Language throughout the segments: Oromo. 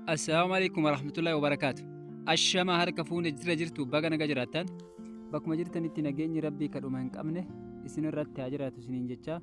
Assalaamu alaikum warahmatullahi wabarakaatu. Ashama harka fuune jira jirtu baga naga jiraattan. Bakkuma jirtanitti nageenyi rabbii kadhuma hin qabne isin irratti haa jiraatu isiniin jechaa.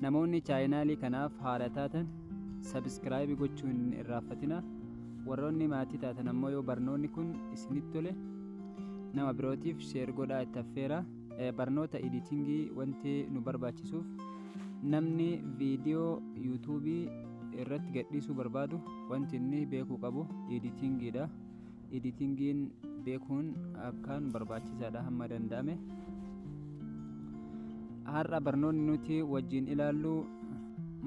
Namoonni chaayinaalii kanaaf haara taatan subscribe gochuu hin irraaffatina. Warroonni maatii taatan ammoo yoo barnoonni kun isinitti tole nama birootiif share godhaa itti affeera. Eh, Barnoota editingii wanti nu barbaachisuuf namni viidiyoo yuutuubii irratti gadhiisuu barbaadu wanti inni beekuu qabu editingiidha. editingiin beekuun akkaan barbaachisaadha hamma danda'ame har'a barnoonni nuti wajjin ilaallu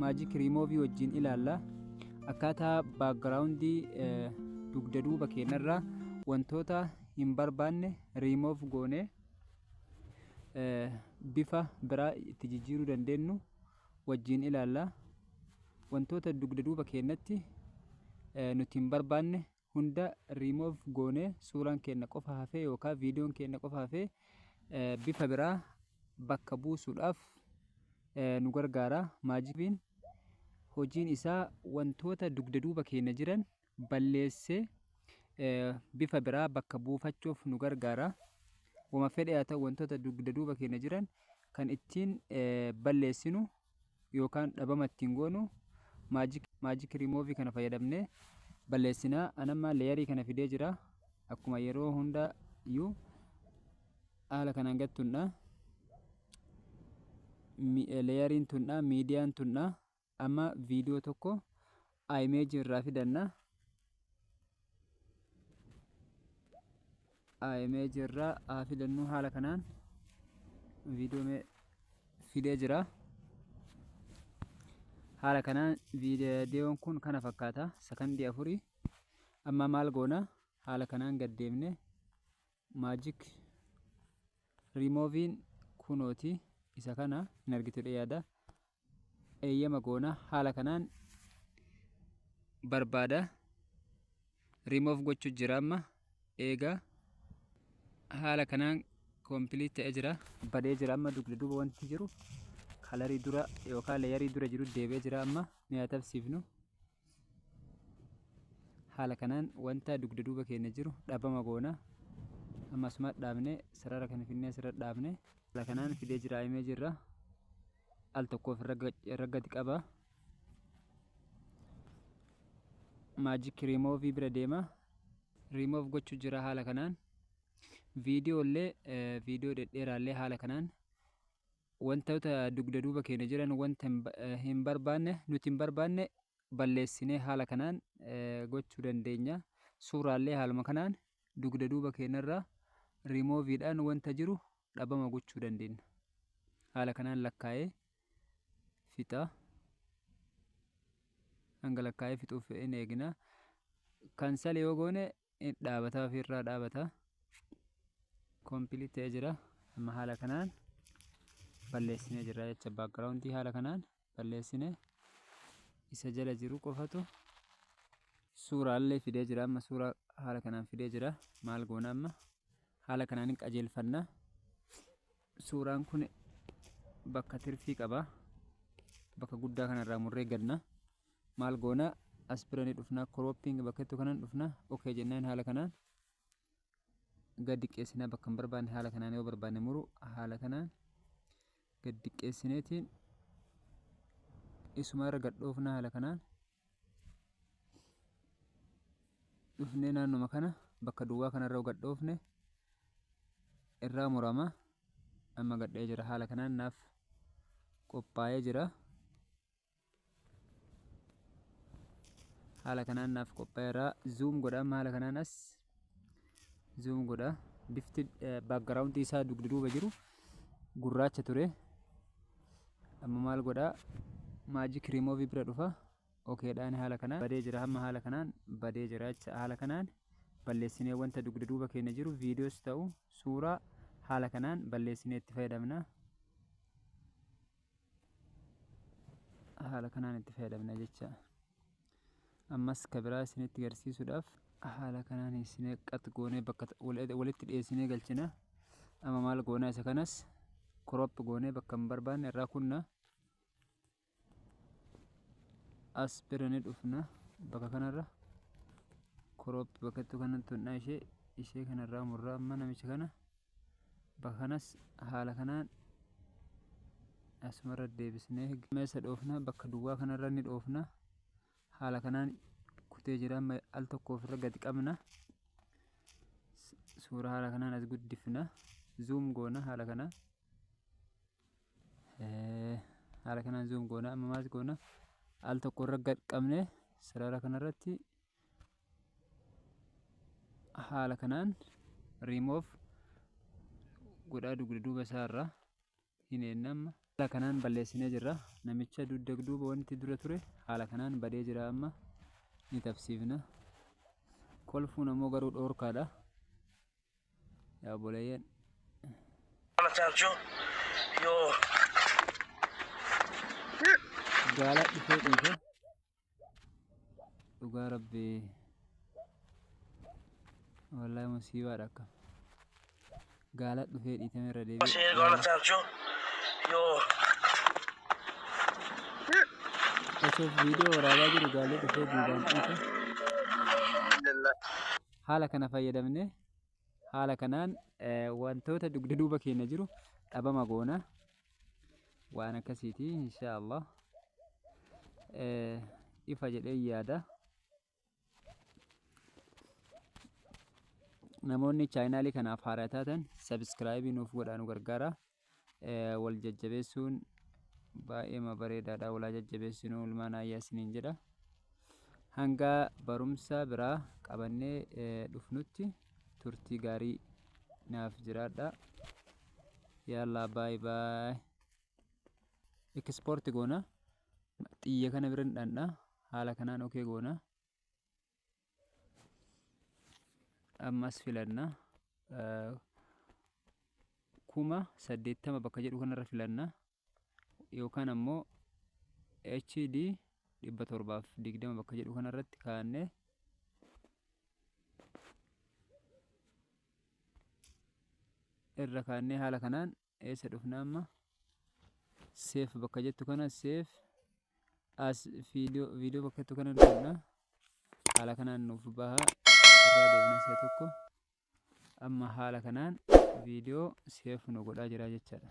maajik riimoovii wajjin ilaalla akkaataa baakgiraawundii dugda duuba keenyarraa wantoota hin barbaanne riimoof goone bifa biraa itti jijjiiruu dandeenyu wajjin ilaalla wantoota dugda duuba keenyatti nuti hin barbaanne hunda remove goone suuraan keenna qofa hafee yookaan viidiyoon keenna qofa hafee bifa biraa bakka buusuudhaaf nu gargaara maajikiin hojiin isaa wantoota dugda duuba keenya jiran balleessee bifa biraa bakka buufachuuf nu gargaara wama fedhe haa ta'u wantoota dugda duuba keenya jiran kan ittiin balleessinu yookaan dhabama ittiin goonu magic remove kana fayyadamne balleessina anamma leeyarii kana fidee jira akkuma yeroo hunda iyyuu haala kanaan gad tunna leeyariin tunna miidiyaan tunna amma viidiyoo tokko a image irraa fidanna a image irraa a fidannu haala kanaan viidiyoo mee fidee jira haala kanaan viidiyoon kun kana fakkaata sakandii afurii amma maal goona haala kanaan gad deemne magic remove'n kunooti isa kana hin argitudha yaada eeyyama goona haala kanaan barbaada remove gochuu jira amma eega haala kanaan complete ta'ee jira badee jira amma dugda duuba wanti jiru kalarii dura yookaan leeyarii dura jiru deebi'ee jira amma mi'a tabsiifnu haala kanaan wanta dugda duuba keenya jiru dhabama goona amma asuma dhaabne sarara kana finnee asirra dhaabne haala kanaan fidee jira himee jirra al tokkoof raggati qaba maajik riimoovii bira deema riimoov gochuu jira haala kanaan viidiyoo illee viidiyoo dhedheeraa illee haala kanaan wantoota dugda duuba keenya jiran wanta hin ba- eh, hin barbaanne nuti hin barbaanne balleessinee haala kanaan eh, gochuu dandeenya suuraallee haaluma kanaan dugda duuba keenyarraa riimooviidhaan wanta jiru dhabama gochuu dandeenya haala kanaan lakkaa'ee fixaa hanga lakkaa'ee fixuuf in eegna kansal yoo goone dhaabataa ofirraa dhaabata complete ta'ee jira amma haala kanaan balleessine jira jecha background haala kanaan balleessine isa jala jiru qofatu suuraa illee fidee jira amma suuraa haala kanaan fidee jira maal goona amma haala kanaan qajeelfanna suuraan kun bakka tirfii qaba bakka guddaa kanarraa murree gadna maal goona as bira ni dhufna cropping bakka jettu kanan dhufna okay jennaan haala kanaan gad diqqeessinaa bakka hin barbaanne haala kanaan yoo barbaanne muru haala kanaan gad diqqeessineetiin isuma irra gad dhoofna haala kanaan dhufnee naannuma kana bakka duwwaa kanarra gad dhoofne irraa murama amma gadhee jira haala kanaan naaf qophaa'ee jira. haala kanaan naaf qophaa'eera zoom godha amma haala kanaan as zoom godha bifti background isaa dugda duuba jiru gurraacha ture amma maal godha magic remove bira dhufa okay dhaan haala kanaan badee jira amma haala kanaan badee jira jecha haala kanaan balleessinee wanta dugda duuba keenya jiru viidiyoos ta'u suuraa haala kanaan balleessinee itti fayyadamna haala kanaan itti fayyadamna jecha ammas ka biraa isinitti garsiisuudhaaf haala kanaan isinee qax goonee bakka walitti dhiyeessinee galchina amma maal goonaa isa kanas crop goonee bakka hin barbaanne irraa kunna as bira ni dhufna bakka kanarra crop bakkattuu kanatti hundhaa ishee ishee kanarraa murraa amma namicha kana Kanas haala kanaan asumarra deebisnee amma eessa dhoofna bakka duwwaa kanarra ni dhoofna haala kanaan kutee jira amma al tokko ofirra gadi qabna suuraa haala kanaan as guddifna zuum goona haala kanaan haala kanaan zuum goona amma maas goona al tokko irra gad qabne sarara kanarratti haala kanaan remove godhaa dugda duuba isaa irraa hin eennamma haala kanaan balleessinee jirra namicha dugda duuba wanti dura ture haala kanaan badee jira amma ni tabsiifna kolfuun ammoo garuu dhoorkaadha yaa boleeyyan Matancho, yo. gaala dhufee dhiisa dhugaa rabbi wallahi musiibaadha akka gaala dhufee dhiitame irra deebi'e Masih gaala. gonna thank you. Yo, osoo viidiyoo waraabaa jiru gaalli dhufee duubaan dhiite alhamdulillah. haala kana fayyadamne Haala kanaan wantoota dugda duuba keenya jiru dhabama goona. Waan akkasiiti insha Allah. Ifa jedhee yaada. Namoonni chaayinaalii kanaaf haaraa taatan sabiskiraayibii nuuf godhaa nu gargaara. wal jajjabeessuun baay'eema bareedaadha walaa jajjabeessinuu ilmaan ayyaa isiniin jedha hanga barumsa biraa qabannee dhufnutti turtii gaarii naaf jiraadha yaalaa baay baay ekispoorti goona xiyya kana biran dhandha haala kanaan okee goona ammas filanna kuma saddeettama bakka jedhu kanarra filanna yookaan ammoo HD dhibba torbaaf digdama bakka jedhu kanarratti kaa'annee irra kaa'annee haala kanaan eessa dhufna amma seef bakka jettu kana seef as viidiyoo viidiyoo bakka jettu kana dhufna haala kanaan nuuf baha irraa deebina si'a tokko amma haala kanaan viidiyoo seef nu godhaa jira jechaadha.